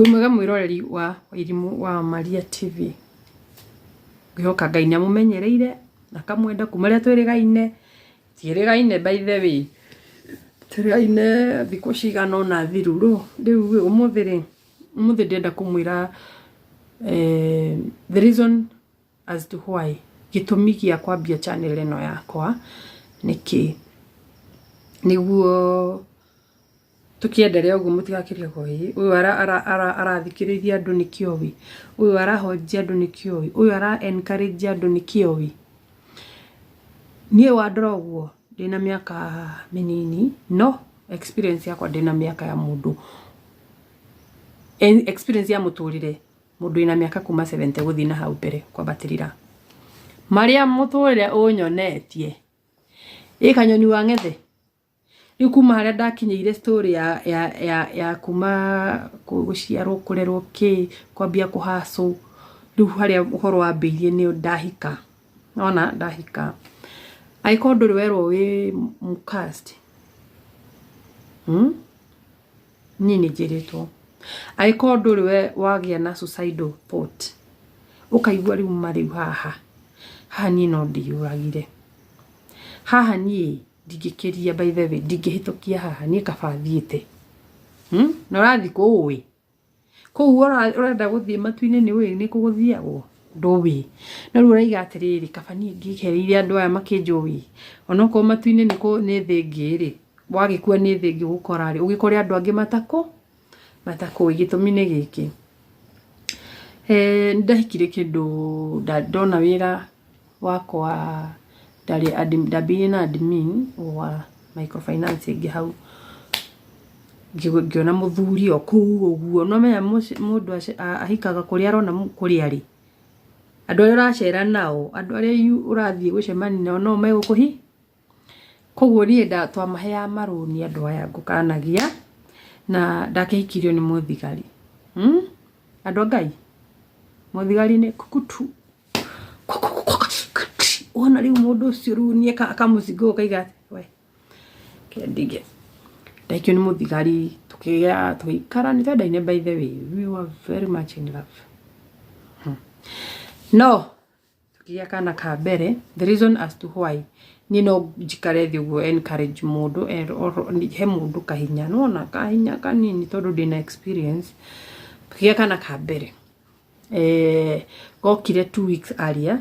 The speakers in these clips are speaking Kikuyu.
wĩ mwega mwĩroreri wa wairimũ wa maria tv ngĩhoka ngai nĩ amũmenyereire na kamwenda kuma rĩa twĩrĩgaine tiĩrĩgaine by the way twĩrĩgaine thikũ cigana ona thiru rũ rĩu rĩ, ũmũthĩ rĩ ũmũthĩ ndĩrenda kũmwĩra eh, the reason as to why gĩtũmi gĩa kwambia channel ĩno yakwa nĩkĩ nĩguo Tũkĩenderea ũguo mũtigakĩre hoi. Ũyũ ara ara ara arathikĩrĩria andũ nĩ kĩoi. Ũyũ arahonjia andũ nĩ kĩoi. Ũyũ ara encourage andũ nĩ kĩoi. Niĩ wandora ũguo ndĩna mĩaka mĩnini no experience yakwa ndĩna mĩaka ya mũndũ experience ya mũtũrĩre mũndũ wĩna mĩaka kuma seventy gũthiĩ na hau mbere kwambatĩrĩra. Marĩa mũtũrĩre ũnyonetie. Ĩ kanyoni wang'ethe. rĩu kuma harĩa ndakinyĩire story ya ya ya ya kuma gũciarwo kũrerwo kĩ kwambia kũhacũ rĩu harĩa ũhoro wambĩirie nĩ ndahika nona ndahika angĩkorwo ndũrĩ werwo wĩ mũcast hmm? niĩ nĩ njĩrĩtwo angĩkorwo ndũrĩ we wagĩa na suicidal thought ũkaigua rĩu ma rĩu haha haha niĩ no ndĩyũragire haha niĩ ndingĩkĩria by the way ndingĩhĩtũkia haha niĩ kaba thiĩte hmm? na ũrathiĩ kũũĩ kũu ũrenda gũthiĩ matu-inĩ nĩ ũĩ nĩ kũgũthiagwo ndũĩ no rĩu ũraiga atĩrĩrĩ kaba niĩ ngĩkereire andũ aya makĩnjũĩ onokorwo matu-inĩ nĩ thĩ ngĩ rĩ wagĩkua nĩ thĩ ngĩ gũkora rĩ ũgĩkore andũ angĩ matakũ matakũĩ gĩtũmi nĩ gĩkĩ, eeh nĩndekire kĩndũ ndona wĩra wakwa ndarĩ admin ndambĩire na admin wa micro finance ĩngĩ hau, ngĩona mũthuri o kũu ũguo nĩwamenya mũndũ ahikaga kũrĩa arona kũrĩa arĩ, andũ arĩa ũracera nao andũ arĩa ũrathiĩ gũcemania nao no megũkũhi. Koguo niĩ nda twamaheaga marũni andũ aya ngũkanagia na ndakĩhikirio nĩ mũthigari. Hmm? Andũ a Ngai, mũthigari nĩ kukutu. Wona rĩu mũndũ ũcio rĩu niĩ ka- kamũcinga ũguo kaiga atĩ, we, reke ndige. Ndahikio nĩ mũthigari tũkĩgĩa tũgĩikara nĩ twendaine by the way. We were very much in love. No. Tũkĩgĩa kana ka mbere, the reason as to why niĩ no njikare thĩ ũguo encourage mũndũ, he mũndũ kahinya, nĩ wona kahinya kanini tondũ ndĩna experience. Tũkĩgĩa kana ka mbere, gokire two weeks earlier,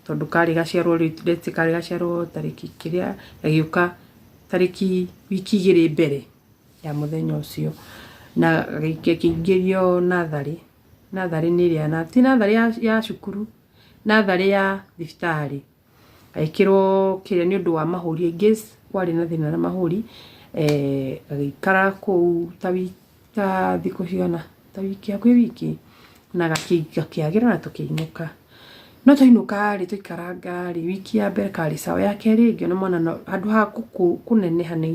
tondũ karĩ gaciarwo rĩu let's say karĩ gaciarwo tarĩki kĩrĩa, gagĩũka tarĩki wiki igĩrĩ mbere ya mũthenya ũcio. Na gakĩingĩrio natharĩ, Natharĩ nĩ ĩrĩa na ti natharĩ ya ya cukuru, natharĩ ya thibitarĩ, ngagĩkĩrwo kĩrĩa nĩ ũndũ wa mahũri in case kwarĩ na thĩna na mahũri, ngagĩikara kũu ta wiki ta thikũ cigana, ta wiki hakuhĩ wiki, na gakĩagĩra na tũkĩinũka. No twainũka rĩ, twaikaranga rĩ, wiki ya mbere karĩ sawa, ya kerĩ ngĩona mwana handũ ha kũneneha nĩ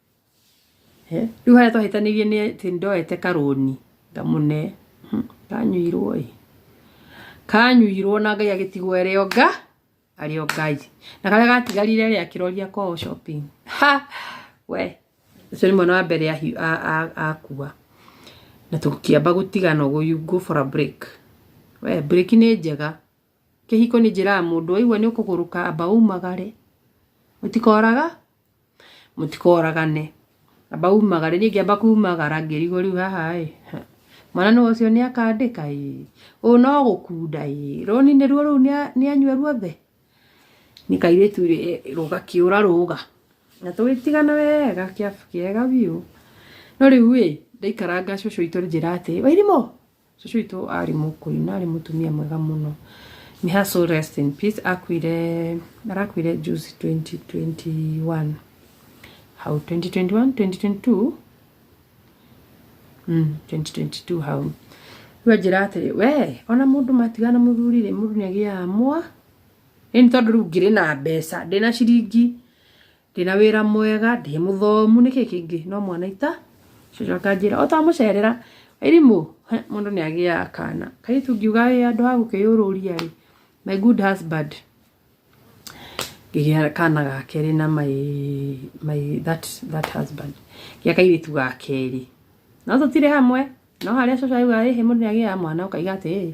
Eh, rĩu harĩa twahĩtanĩirie nĩ atĩ ndoete karũni ngamũne Hmm, kanyuirwo ĩ kanyuirwo na ngai agĩtigwo arĩ o nga arĩ o ngai na karĩa gatigarire rĩ akĩroria kwao shopping ha we ũcio nĩ mwana wa mbere ahi- a- a- akua na tũkĩamba gũtigana ũguo you go for a break we break nĩ njega Kĩhiko nĩ njĩra ya mũndũ waigua nĩ ũkũgũrũka amba umagare. Mũtikoraga, mũtikoragane. Amba umagare. Niĩ ngĩamba kumagara ngĩrigwo rĩu haha ĩ, mwana nĩwe ũcio nĩ akandĩka ĩ, ũyũ no gũkunda ĩ, rũni nĩruo rũu nĩ anyue ruothe? Nĩ kairĩtu rũga kĩũra rũga. Na tũgĩtigana wega kĩega biũ. No rĩu ĩ, ndaikaranga cũcũ witũ anjĩra atĩ, Wairimũ! Cucu witũ arĩ mũkũi na arĩ mũtumia mwega mũno. May her soul rest in peace. Akuire, arakuire juzi 2021. Hau 2021, 2022? Mm, 2022 hau. Rĩu anjĩra atĩrĩ, we, ona mũndũ matigana mũthuri-rĩ, mũndũ nĩ agĩaga mwa. Ĩni tondũ rĩu ngĩrĩ na mbeca, ndĩna ciringi Ndĩna wĩra mwega, ndĩ mũthomu, nĩkĩ kĩngĩ? No mwana ita. Cũcũ akanjĩra, o twamũcerera, Wairimũ, he, mũndũ nĩ agĩaga kana. Kairĩtu ngiuga ĩ andũ a gũkĩyũrũria rĩ, my good husband. Ngĩgĩa kana ga kerĩ na my, my that, that husband. Ngĩa kairĩtu ga kerĩ. No tũtirĩ hamwe, no harĩa cũcũ auga ĩ, mũndũ nĩ agĩaga mwana, ũkaiga atĩrĩrĩ,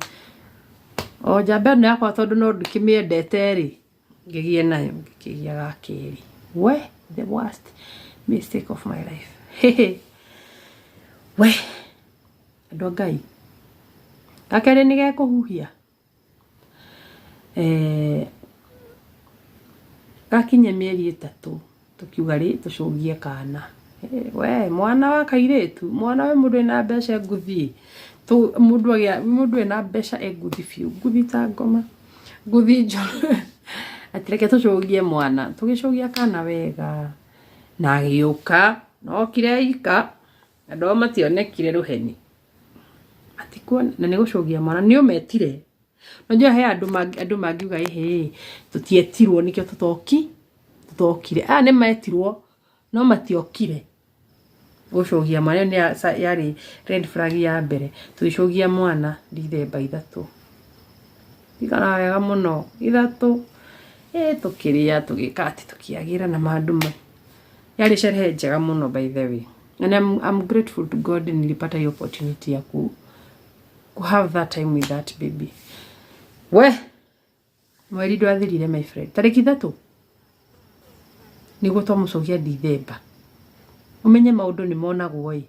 o njamba ĩno yakwa tondũ no ndĩkĩmĩendete rĩ, ngĩgĩe nayo ngĩkĩgĩa ga kerĩ we the worst mistake of my life we andũ a ngai ga kerĩ nĩ gekũhuhia eh, gakinye mĩeri ĩtatũ tũkiuga rĩ tũcũngie kana Eh, we mwana wa kairĩtu mwana we mũndũ ena mbeca e nguthi Tu- mũndũ agĩa- mũndũ ena mbeca e nguthi biũ nguthi ta ngoma nguthi njoro ati reke tũcũgie mwana tũgĩcũgia kana wega na agĩũka nokire ika andũ ao mationekire rũheni matikuona na nĩ gũcũgia mwana nĩ ũmetire Unajua he andũ mangi- andũ mangiuga ĩhĩ tũtietirwo nĩkĩo tũtoki tũtokire aya nĩ metirwo no matiokire gũcogia marĩa nĩ ya- sa- yarĩ red flag ya mbere tũgĩcogia mwana ndithemba ithatũ ikara wega mũno ithatũ ĩ tũkĩrĩa tũgĩka atĩ tũkĩagĩra na mandũ ma yarĩ sherehe njega mũno by the way and I'm, I'm grateful to God nilipata hiyo opportunity ya ku go have that time with that baby we mweri ndwathirire my friend tarĩki ithatũ nĩguo twamũcokia ndithemba umenye maundu ni monagwo ĩ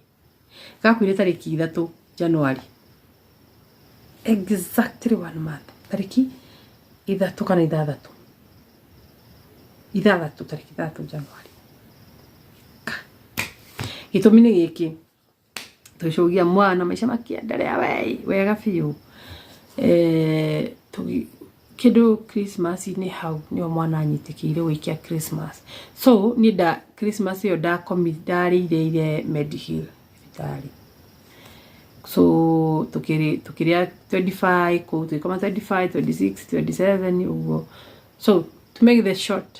gakwire tariki ithatu januari exactly one month tariki ithatu kana ithathatu ithathatu tariki ithatu januari gitumi ni giki tũcũgia mwana maica makĩenderea wei wega biũ eh, tũgi- kĩndũ christmas-inĩ hau nĩo mwana anyitĩkĩire gũikia christmas so niĩ nda christmas ĩyo ndakomi ndarĩire ire medical thibitarĩ so tukiri tukiria 25 ku tukikoma 25 26 27 uguo so to make the short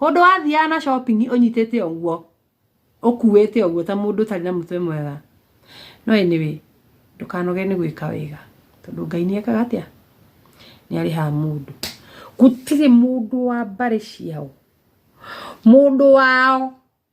Hũndũ wathiaga na shopping ũnyitĩte ũguo ũkuĩte ũguo ta mũndũ ũtarĩ na mũtwe mwega no anyway ndũkanoge nĩ gwĩka wega tondũ Ngai nĩ ekaga atĩa nĩ arĩhaga mũndũ gũtirĩ mũndũ wa mbarĩ ciao mũndũ wao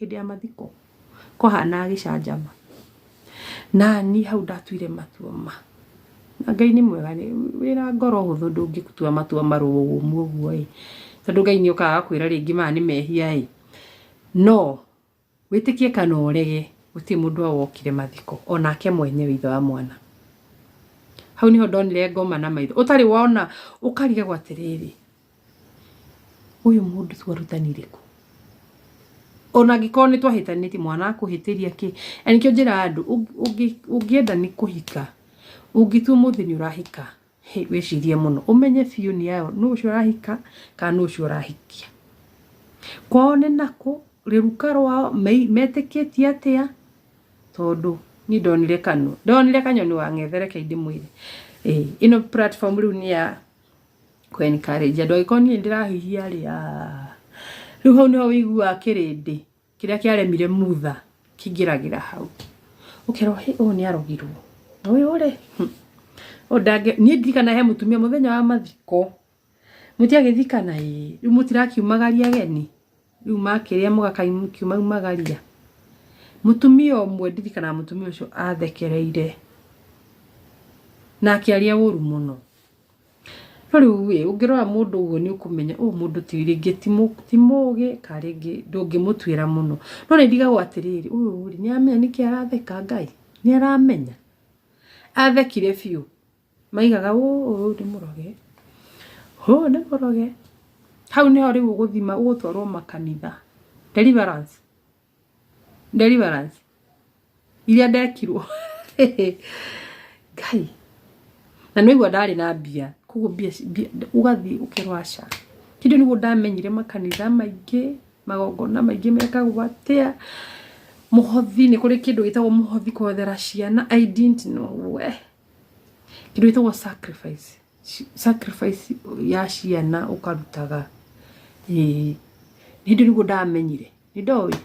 Hĩndĩ ya mathiko kwahanaga gĩcanjama. Na niĩ hau ndatuire matua ma. Na Ngai nĩ mwega wĩna ngoro hũthũ ndũngĩtua matua marũrũ ũguo ĩ. Tondũ Ngai nĩ okaga agakwĩra rĩngĩ maya nĩ mehia ĩ. No wĩtĩkie kana ũrege gũtirĩ mũndũ wokire mathiko onake mwenyewe ithe wa mwana. Hau nĩho ndonire ngoma na maitho ũtarĩ wona ũkarigagwo atĩrĩrĩ. Ũyũ mũndũ twarutanire kũ? Ona angĩkorwo nĩ twahĩtanĩtie mwana akũhĩtĩria kĩ? Na nĩkĩo njĩraga andũ ũngĩenda nĩ kũhika, ũngĩtua ũmũthĩ nĩ ũrahika, wĩcirie mũno ũmenye biũ nĩ aya ũũ, nũũ ũcio ũrahika kana nũũ ũcio ũrahikia. Kwao nĩ nakũ, rũruka rwao, metĩkĩtie atĩa? Tondũ niĩ ndonire kanua, ndonire kanyoni wang'ethere kaĩ ndĩmwĩre. Ĩno platform rĩu nĩ ya... kũ encourage andũ angĩkorwo niĩ ndĩrahihia rĩ ah, rĩu hau nĩho wĩiguaga kĩrĩndĩ kĩrĩa kĩaremire mutha kĩingĩragĩra hau ũkerwo hĩ ũyũ nĩ arogirwo ũyũ rĩ hmm. ũyũ ndange niĩ ndirikana he mũtumia mũthenya wa mathiko mũtiagĩthikana ĩ rĩu mũtirakiumagaria ageni rĩu makĩrĩa mũgakaĩ mũkiumagaria mũtumia ũmwe ndirikanaga mũtumia ũcio athekereire na akĩaria ũru mũno no rĩu ĩ ũngĩrora mũndũ ũguo nĩ ũkũmenya ũyũ mũndũ ti rĩngĩ ti mũgĩ ka rĩngĩ ndũngĩmũtuĩra mũno no nĩ ndigagwo atĩrĩrĩ ũyũ rĩ nĩ aramenya nĩkĩ aratheka Ngai nĩ aramenya athekire biũ. maigaga ũũ ũyũ nĩ mũroge ũyũ nĩ mũroge hau nĩho rĩu ũgũthima ũgũtwarwo makanitha deliverance deliverance iria ndekirwo ngai na nĩgua ndarĩ na mbia koguo mbia ũgathiĩ ũkerwo aca kĩndũ nĩguo ndamenyire makanitha maingĩ magongona maingĩ mekagwo atĩa mũhothi nĩ kũrĩ kĩndũ gĩtagwo mũhothi kũhothera ciana I didn't know we kĩndũ gĩtagwo sacrifice sacrifice ya ciana ũkarutaga ĩĩ hĩndĩ nĩguo ndamenyire nĩ ndoĩ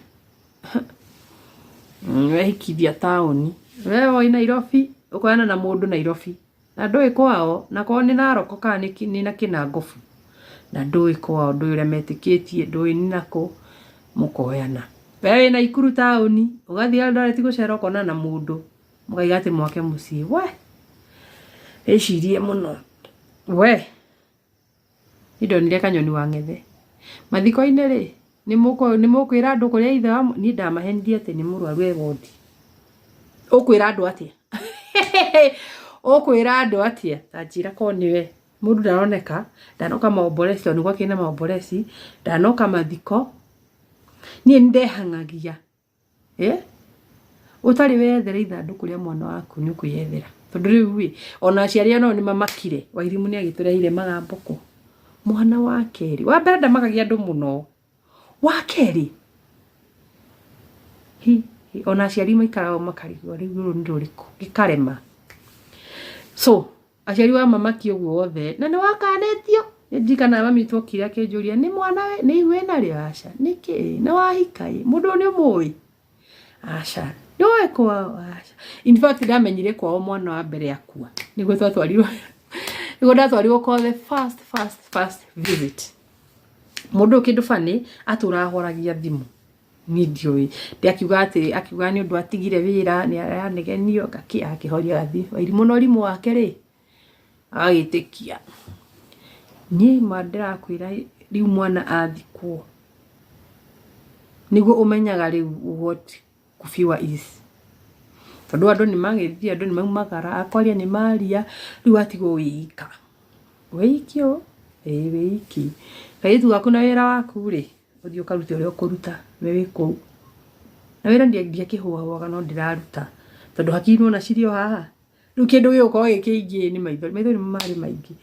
wehikithia taũni we woĩ Nairobi ũkoyana na mũndũ Nairobi na ndũĩ kwao na kwao nĩ Narok kana nĩ kĩ- nĩ na Kĩnangobu na ndũĩ kwao ndũĩ ũrĩa metĩkĩtie ndũĩ nĩ nakũ mũkoyana we wĩ Naikuru taũni ũgathiĩ Eldoret gũcera ũkonana na mũndũ mũkaiga atĩ mwake mũciĩ we ĩcirie mũno we nindonire kanyoni wa ng'ethe mathiko-inĩ rĩ nĩ mũkũ- nĩ mũkwĩra andũ kũrĩa ithe wa mũ- niĩ ndamahenirie atĩ nĩ mũrwaru e wondi ũkwĩra andũ atĩa ũkwĩra andũ atĩa tanjĩra ko nĩwe mũndũ ndaroneka ndanoka maomboresi tondũ nĩgwakĩrĩ na maomboresi ndanoka mathiko niĩ nĩndehangagia Ũtarĩ weyethera ithandũkũ rĩa mwana waku nĩ ũkwĩyethera. Tondũ rĩu rĩ, ona aciari aya nao nĩ mamakire. Wairimu nĩ agĩtũreheire magambũkũ. Mwana wa kerĩ, wa mbere ndamakagia andũ mũno. Wa kerĩ, hi, ona aciari maikaraga ũguo makarigwo rĩu rũrũ nĩ rũrĩkũ, gĩkarema. So. Aciari wa mamaki ũguo wothe. Na nĩ wakanĩtio? Nĩ ndirikanaga mami witũ okire akĩnjũria, nĩ mwana wĩ, nĩ ihu wĩna rĩo? Aca. Nĩkĩ ĩ? Nĩ wahika ĩ? Mũndũ ũyũ nĩ ũmũĩ? Aca. Nĩ ũĩ kwao? Aca. In fact ndamenyire kwao mwana wa mbere akua. Nĩguo twatwarirwo nĩguo ndatwarirwo kwa the first first first visit. Mũndũ ũyũ kĩndũ funny atũraga horagia thimũ. niĩ ndiũĩ ndĩ akiuga atĩrĩ akiuga nĩ ũndũ atigire wĩra nĩ aranegenio ngakĩ akĩhoria gathi wairimũ na ũrimũ wake rĩ agagĩtĩkia niĩ ma ndĩrakwĩra rĩu mwana athikwo nĩguo ũmenyaga rĩu what kufiwa is tondũ andũ nĩ magĩthiĩ andũ nĩ maumagara akwaria nĩ maria rĩu atigwo wĩika wĩiki ũ ĩĩ wĩiki kairĩtu gaku na wĩra waku rĩ ũthiĩ ũkarute ũrĩa ũkũruta we wĩ kũu na wĩra ndiakĩhũahũaga no ndĩraruta tondũ hakiri nona cirĩ o haha rĩu kĩndũ gĩgũkorwo gĩ kĩingĩ nĩ maithori maithori marĩ maingĩ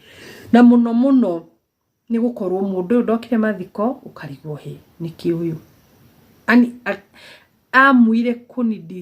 na mũno mũno nĩ gũkorwo mũndũ ũyũ ndokire mathiko ũkarigwo hĩ nĩkĩ ũyũ ani amuire kũnidi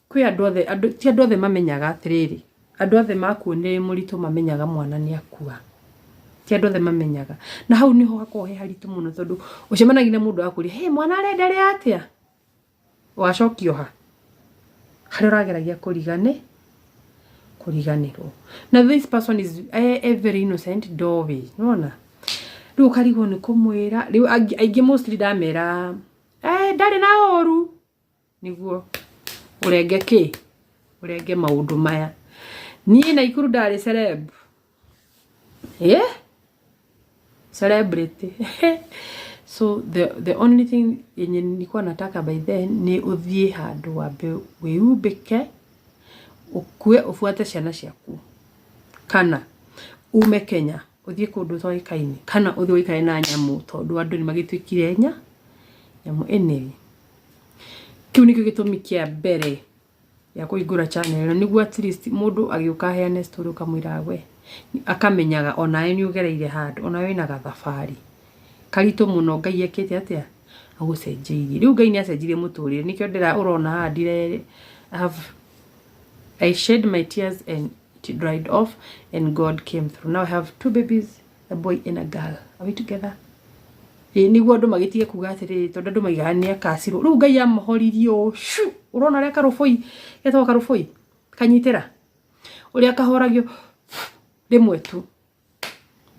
Kwĩ andũ othe, andũ, ti andũ othe mamenyaga atĩrĩrĩ, andũ othe makuo nĩ mũritũ mamenyaga mwana nĩ akua. Ti andũ othe mamenyaga. Na hau nĩho hakoragwo he haritũ mũno tondũ ũcemanagia na mũndũ akũria, hey, mwana arenderea atĩa? Wacokio ha? Harĩa ũrageragia kũrigane, kũriganĩrwo. Na this person is eh, eh, very innocent, ndoĩ, nĩwona? Rĩu ũkarigwo nĩ kũmwĩra, rĩu angĩ- aingĩ mostly ndamera, eh, ndarĩ na ũru, nĩguo ũrenge kĩ ũrenge maũndũ maya niĩ naikuru ndarĩ celeb eh? celebrity so the, the only thing yenye nilikuwa nataka by then nĩ ũthiĩ handũ wambe wĩumbĩke ũkue ũbuate ciana ciaku kana ume kenya ũthiĩ kũndũ ũtoĩkaine kana ũthiĩ ũikare na nyamũ tondũ andũ nĩ magĩtuĩkire nya nyamũ anyway Kĩu nĩkĩo gĩtũmi kĩa mbere gĩa kũhingũra channel ĩno nĩguo at least mũndũ agĩũka aheane story ũkamwĩraga we, akamenyaga onawe nĩ ũgereire handũ, onawe wĩna gathabarĩ karitũ mũno Ngai ekĩte atĩa, agũcenjeirie. Rĩu Ngai nĩ acenjirie mũtũrĩre nĩkĩo ũrona haha ndire I have, I shed my tears and it dried off and God came through. Now I have two babies. a boy and a girl are we together ĩ nĩguo andũ magĩtige kuga atĩrĩrĩ tondũ andũ maigaga nĩ akacirwo rĩu ngai amũhoririe ũũ shu ũrona ũrĩa karũbũi getagwo karũbũi kanyitĩra ũrĩa kahoragio rĩmwe tu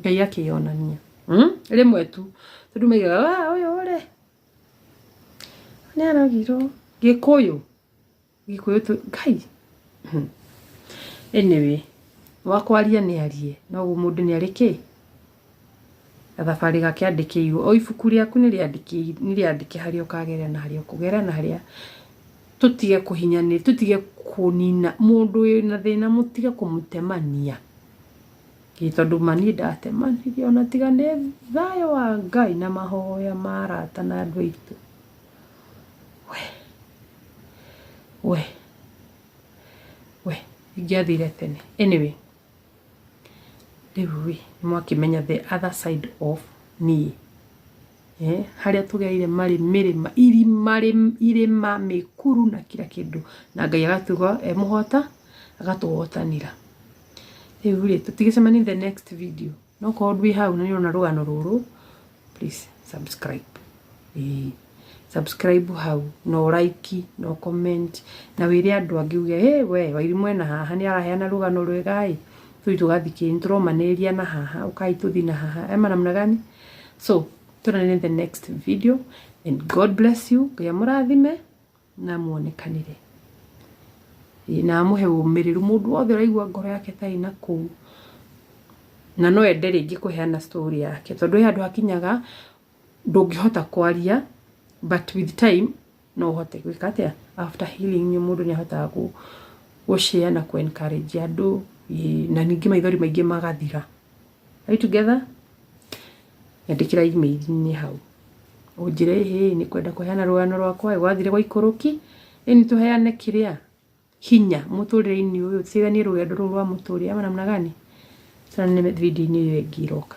ngai akĩyonania Mm, rĩmwe tu tondũ maigaga "Ah, ũyũ rĩ nĩ aragirwo gĩkũyũ Gĩkũyũ tũ kai anyway wakwaria nĩ arie no mũndũ nĩ arĩ kĩ gathabarĩ gake andĩkĩirwo o ibuku rĩaku nĩ rĩandĩke harĩa ũkagerera na harĩa ũkũgerera na harĩa tũtige kũhinyani tũtige kũnina mũndũ wĩna thĩna mũtige kũmũtemania ĩ tondũ ma niĩ ndatemanire ona tiga nĩ thayũ wa Ngai na mahoya ma arata na andũ aitũ. We, we, we, ingĩathire tene. Anyway, rĩu rĩ, nĩmwakĩmenya the other side of niĩ. Eh, harĩa tũgereire marĩ mĩrĩma, irima, rĩ- irĩma, mĩkuru na kira kĩndũ. Na Ngai agatuga e mũhota, agatũhotanĩra. Rĩu rĩ, tũtigĩcemanie in the next video. no korwo ndwĩ hau na nĩũrona rũgano rũrũ please subscribe ĩĩ subscribe hau no like no comment na wĩre andũ angĩ uge hey, we wairimũ ena haha nĩ araheana rũgano rwega ĩ tũi tũgathikĩrĩria nĩ tũromanĩrĩria na haha ũkai tũthi na haha ema namna gani so tũnane in the next video and god bless you ngai amũrathime na muonekanĩre na amũhe ũmĩrĩru. Mũndũ wothe ũraigua ngoro yake ĩtarĩ na kũu na no ende rĩngĩ kũheana story yake, tondũ he handũ hakinyaga ndũngĩhota kwaria but with time no ũhote gwĩka atĩa, after healing mũndũ nĩ ahotaga gũ share na kũ encourage andũ na ningĩ maithori maingĩ magathira. Are we together? Nyandĩkĩra email-inĩ hau. Ũnjĩre ĩhĩ nĩ kwenda kũheana rũgano rwakwa rwathire gwa ikũrũki. Ĩ nĩ tũheane kĩrĩa hinya mũtũrĩre-inĩ ũyũ tutiganie rũgendo rũrũ rwa mũtũrĩre ama namna gani? Tũrane video-inĩ ĩyo ĩngĩ ĩroka.